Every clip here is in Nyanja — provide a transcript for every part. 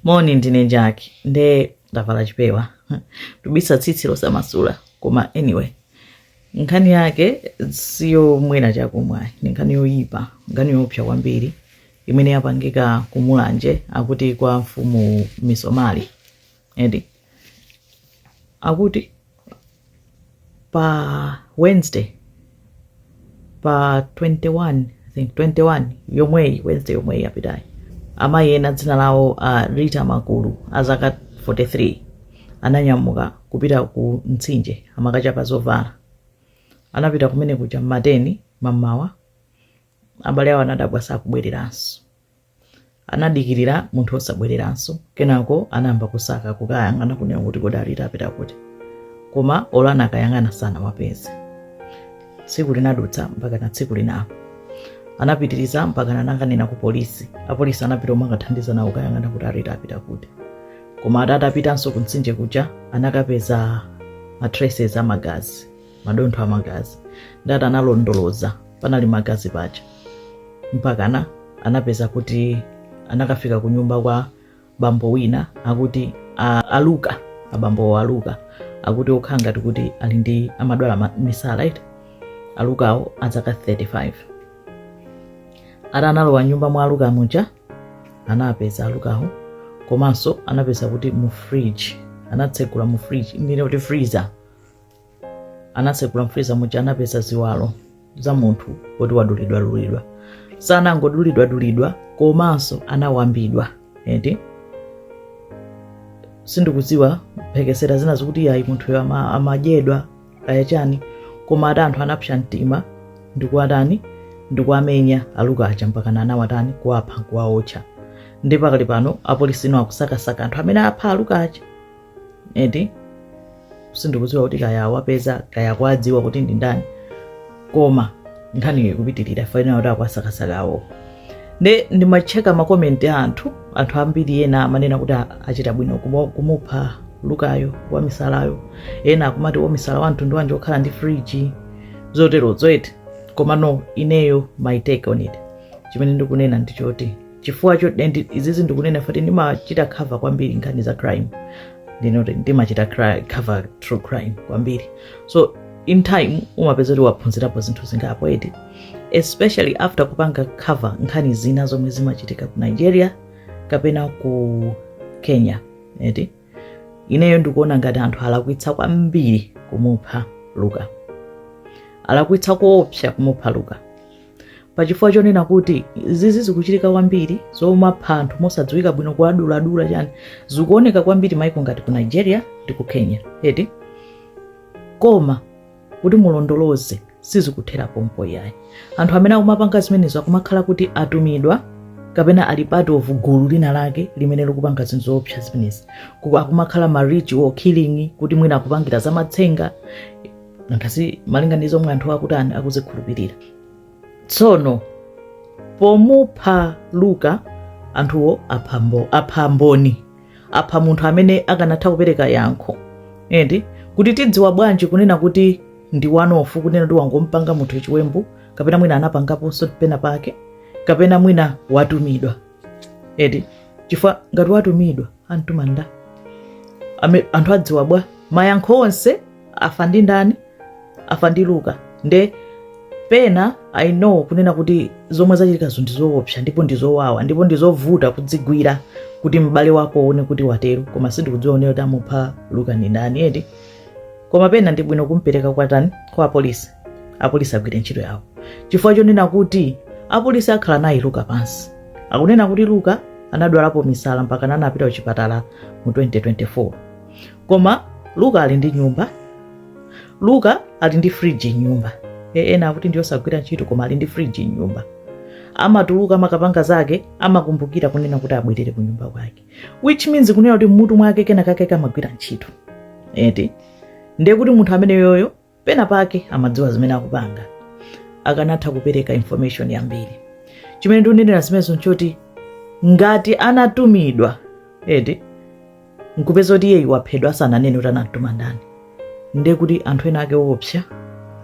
moni ndine Jackie nde ndavala chipewa ndubisa tsitsi losamasula koma anyway nkhani yake siyomwera chakumwa ni nkhani yoyipa nkhani yopsa kwambiri imene yapangika kumulanje akuti kwa mfumu misomali edi akuti pa wednesday pa 21 I think 21 yomweyi wednesday yomweyi yapitayi amayi ena dzina lawo a rita makulu a zaka 43 ananyamuka kupita ku mtsinje amakachapa zovala anapita kumene kuja mmatani mammawa abale awo anadabwa sakubwereranso anadikirira munthu osabwereranso kenako anayamba kusaka kukayang'ana kunena kuti kodi a rita apita kuti koma olo anakayang'ana sanawapeze tsiku linadutsa mpaka na tsiku linanso anapitiriza mpaka anakanena ku polisi apolisi anapita omwe akathandiza nawo kayang'ana kuti a rita apita kuti koma atati apitanso ku mtsinje kuja anakapeza matraces amagazi madontho a magazi nde ati analondoloza panali magazi paja mpakana anapeza kuti anakafika ku nyumba kwa bambo wina akuti a- aluka abambowo aluka akuti okhala ngati kuti ali ndi amadwala ma- misala eti alukawo azaka 35 ati analowa nyumba mwa aluka muja anapeza alukawo komanso anapeza kuti mu fridge anatsegula mu fridge ndinene kuti freezer anatsegula mu freezer muja anapeza ziwalo za munthu woti wadulidwadulidwa sanangodulidwadulidwa komanso anawambidwa eti sindikudziwa mphekesera zina zikuti ayi munthuyo ama- amadyedwa kaya chani koma ati anthu anapsa mtima ndikuwatani ndikuwamenya aluka aja mpaka anawatani kuwapha nkuwaotcha ndi pakali pano apolisi tsono akusakasaka anthu amene apha aluka aja eti sindikudziwa kuti kaya awapeza kaya kwadziwa kuti ndi ndani koma nkhaniyo ikupitirira faina kuti akuwasakasakawo nde ndimacheka makomenti a anthu anthu ambiri ena amanena kuti a- achita bwino kumo- kumupha lukayo wamisalayo ena akumati wamisala wa mtundu wanji okhala ndi friji zotero zoti eti komano ineyo my take on it chimene ndikunena ndichoti chifukwa cho and izizi ndikunena poti ndimachita cover kwambiri nkhani za crime ndikuti ndimachita cri- cover true crime kwambiri so in time umapeza kuti waphunzirapo zinthu zingapo eti especially after kupanga cover nkhani zina zomwe zimachitika ku nigeria kapena ku kenya eti ineyo ndikuona ngati anthu alakwitsa kwambiri kumupha luka alakwitsa koopsa kumupha luka pachifukwa chonena kuti zizi zikuchitika kwambiri zomapha anthu mosadziwika bwino kuwaduladula chani zikuoneka kwambiri maiko ngati ku nigeria ndi ku kenya eti koma kuti mulondoloze sizikuthera pompo yayi anthu amene akumapanga zimenezo akumakhala kuti atumidwa kapena ali part of gulu lina lake limene likupanga zinthu zoopsa zimenezi akumakhala ma ritual killing kuti mwina akupangira zamatsenga ngati malinga ndi zomwe anthu akutani akuzikhulupirira tsono pomupha luka anthuwo apha mboni apha munthu amene akanatha kupereka yankho eti kuti tidziwa bwanji kunena kuti ndi wanofu kunena kuti wangompanga munthu chiwembu kapena mwina anapangaponso pena pake kapena mwina watumidwa eti chifukwa ngati watumidwa wamtuma nda anthu adziwa bwa mayankho onse afa ndi ndani afa ndi luka nde pena i know kunena kuti zomwe zachitikazo ndi zoopsa ndipo ndi zowawa ndipo ndi zovuta kuzigwira kuti m'bale wako uone kuti watero koma sindikudziwa unene kuti amupha luka ndi ndani eti koma pena ndi bwino kumpereka kwa tani kwa apolisi apolisi agwire ntchito yawo chifukwa chonena kuti apolisi akhala naye luka pansi akunena kuti luka anadwalapo misala mpaka anapita kuchipatala mu 2024 koma luka ali ndi nyumba luka ali ndi friji mnyumba e, ena akuti ndiyosagwira ntchito koma ali ndi friji mnyumba amatuluka amakapanga zake amakumbukira kunena kuti abwerere ku nyumba kwake which means kunena kuti mmutu mwake kenakake kamagwira ntchito eti ndiye kuti munthu ameneyoyo pena pake amadziwa zimene akupanga akanatha kupereka information yambiri chimene ndikunenera zimenezo nchoti ngati anatumidwa eti nkupeza kuti iyeyu waphedwa asananene kuti anamtuma ndani ndiye kuti anthu ena ake oopsa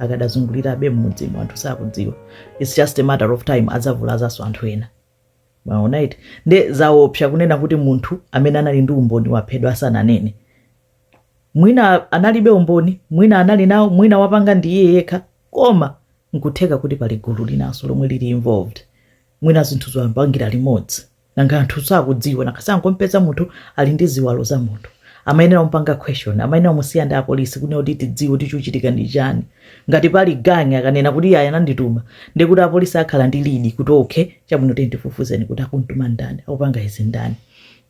akadazungulirabe mmudzimo anthu sakudziwa its just a matter of time adzavulazanso anthu ena mwaona eti nde zaopsa kunena kuti munthu amene anali ndi umboni waphedwa asananene mwina analibe umboni mwina anali nawo mwina wapanga ndi iye yekha koma nkutheka kuti pali gulu linanso lomwe lili involved mwina zinthu amapangira limodzi nanga anthu sakudziwa nanga sangompeza munthu ali ndi ziwalo za munthu amayenera kumpanga question amayenera musiya ndi apolisi kunena kuti tidziwe kuti chikuchitika ndi chani Ngati pali gang akanena kuti iyayi anandituma ndiye kuti apolisi akhala ndi lead kuti okay chabwino tiyeni tifufuzeni kuti akumtuma ndani, akupanga izi ndani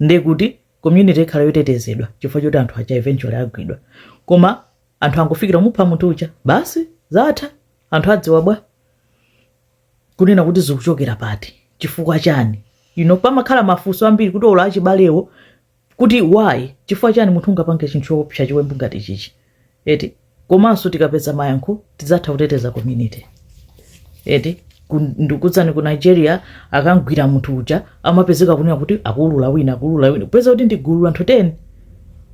ndiye kuti community ikhala yotetezedwa chifukwa choti anthu aja eventually agwidwa. Koma anthu angofikira kumupha munthu uja basi zatha. Anthu adziwa bwa? Kunena kuti zikuchokera pati, chifukwa chani? You know, pamakhala mafunso ambiri kuti olo achibalewo kuti why chifukwa chani munthu ungapange chinthu choopsa chiwembu ngati chichi eti komanso tikapeza mayankho tidzatha kuteteza community eti ku- ndikuuzani ku nigeria akamugwira munthu uja amapezeka kunena kuti akuulula wina akuulula wina kupeza kuti ndigulu anthu 10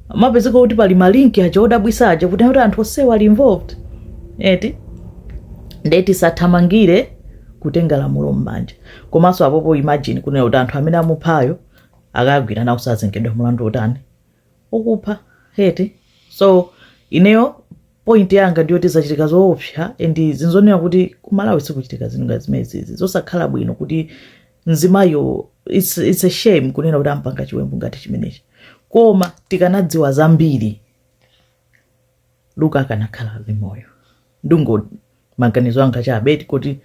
amapezeka kuti pali malinki aja odabwisa aja kuti kuti anthu onsewa ali involved eti nde tisathamangire kutenga lamulo m'manja komanso apopo imagine kunena kuti anthu amene amuphayo akagwira nawo sazengedwa mlandu wotani wokupha eti so ineyo point yanga ndiyoti zachitika zoopsa and nzoona kuti kumalawi zikuchitika zinthu ngati zimenezizi zosakhala bwino kuti mzimayo it's, it's a shame kunena kuti ampanga chiwembu ngati chimenechi koma tikanadziwa zambiri Luka akanakhala ali moyo ndango maganizo anga chabe kuti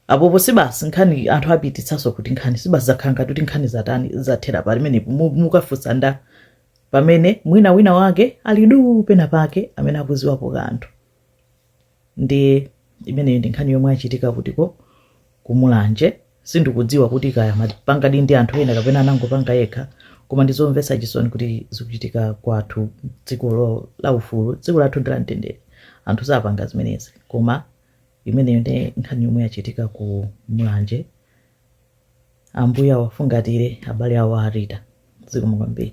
apopo sibasi nkhani anthu apititsanso kuti nkhani sibasi zakhala ngati kuti nkhani zatani zathera pamenepo Mu- mukafunsa ndi pamene mwina wina wake ali duu pena pake amene akudziwapo kanthu ndi imeneyo ndi nkhani yomwe yachitika kutiko kumulanje sindikudziwa kuti kaya amapangadi ndi anthu ena kapena anangopanga yekha koma ndizomvetsa chisoni kuti zikuchitika kwathu dziko lo- la ufulu dziko lathu ndi la mtendere anthu sapanga zimenezi koma imeneyo ndi nkhani yomwe yachitika ku mulanje ambuye awafungatire abale awo a rita zikomo kwambiri